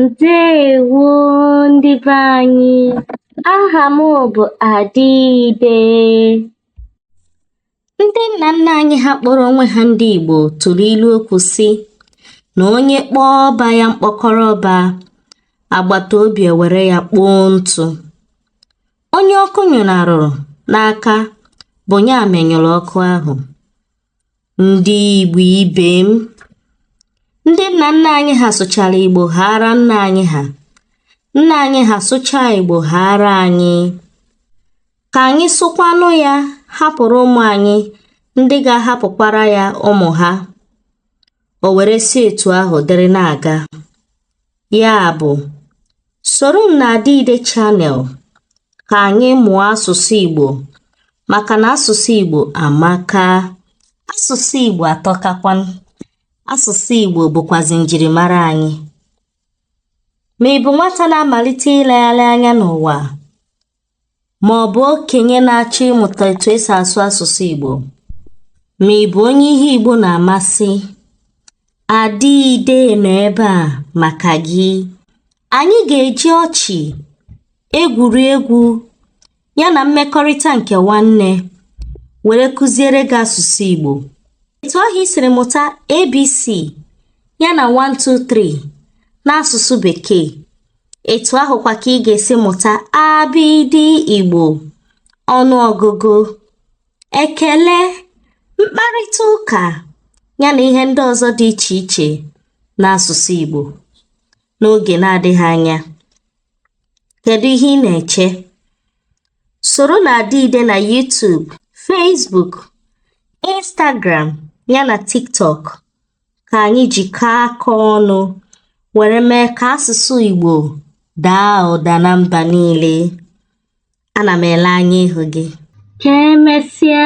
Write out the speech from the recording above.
Ndewo ndị be anyị, aha m bụ Adịide. Ndị nna nna anyị ha kpọrọ onwe ha ndị Igbo tụrụ ilu okwu sị na onye kpọọ ọba ya mkpọkọrọ ọba, agbata obi ewere ya kpoo ntụ. onye ọkụ nyụnarụrụ n'aka bụ ya menyụrụ ọkụ ahụ ndị Igbo ibe m ndị nna nna anyị ha sụchara Igbo haara nna anyị ha nna anyị ha sụchaa Igbo haara anyị ka anyị sụkwanụ ya hapụrụ ụmụ anyị ndị ga-ahapụkwara ya ụmụ ha o were si etu ahụ dịrị na-aga Ya bụ, soro m na Adịide Channel ka anyị mụọ asụsụ Igbo maka na asụsụ Igbo amaka. Asụsụ Igbo atọkakwa. Asụsụ Igbo bụkwazi njirimara anyị. Ma ị bụ nwata na-amalite ilegharị anya n'ụwa ma ọ bụ okenye na-achọ ịmụta etu e si asụ asụsụ Igbo ma ị bụ onye ihe Igbo na-amasị Adịide nọ ebe a maka gị anyị ga-eji ọchị egwuregwu ya na mmekọrịta nke nwanne were kụziere gị asụsụ Igbo etu ahụ i siri mụta ABC ya na 123 n'asụsụ Bekee etu ahụkwa ka ị ga-esi mụta abịdị Igbo ọnụọgụgụ ekele mkparịta ụka ya na ihe ndị ọzọ dị iche iche n'asụsụ Igbo n'oge na-adịghị anya kedu ihe ị na-eche soro na Adịide na YouTube Facebook Instagram ya na TikTok ka anyị jikọọ aka ọnụ were mee ka asụsụ Igbo daa ụda na mba niile. Ana m ele anya ịhụ gị. Ka emesịa.